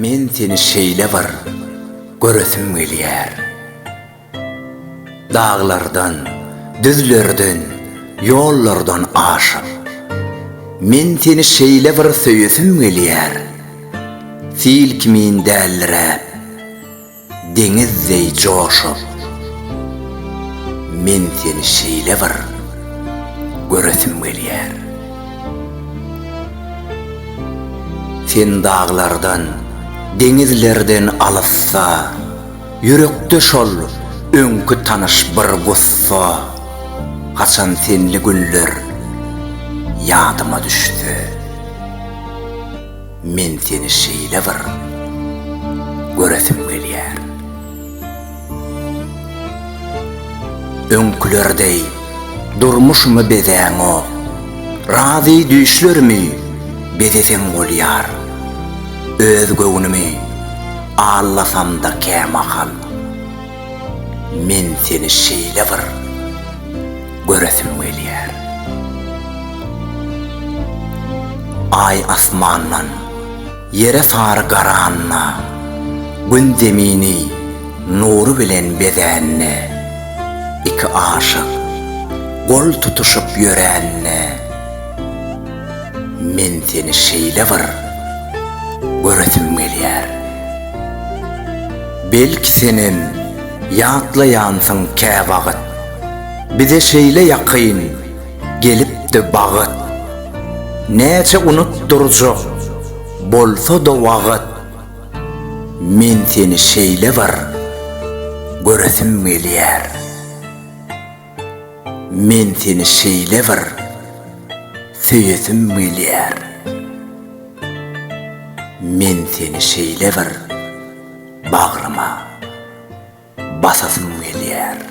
Men seni şeýle bir göresim gelýär. Daglardan, düzlerden, ýollardan aşyp, Men seni şeýle bir söýesim gelýär, Sil kimin dälliräp, deňiz deý joşup, Men seni şeýle bir göresim gelýär. Sen daglardan, deňizlerden alysda. Ýürekde şol öňki tanyş bir gussa, Haçan senli günler ýadyma düşse, Men seni şeýle bir göresim gelýär. Öňküler deý durmuşymy bezäňok, Razy düýşlerimi bezeseň bolýar. Öz göwnümi allasamda kämahal, Men seni şeýle bir göresim gelýär. Aý asmandan ýere sary garanda, Gün zemini nury bilen bezände, Iki aşyk gol tutuşyp ýörände, Men seni şeýle bir göresim gelýär. Belki senem ýatlaýansyň käwagt. Bize şeýle ýakyn gelipdi bagt. Näçe unutdyrjak bolsa-da wagt. Men seni şeýle bir göresim gelýär. Men seni şeýle bir söýesim gelýär Men seni şeýle bir bagryma basasym gelýär.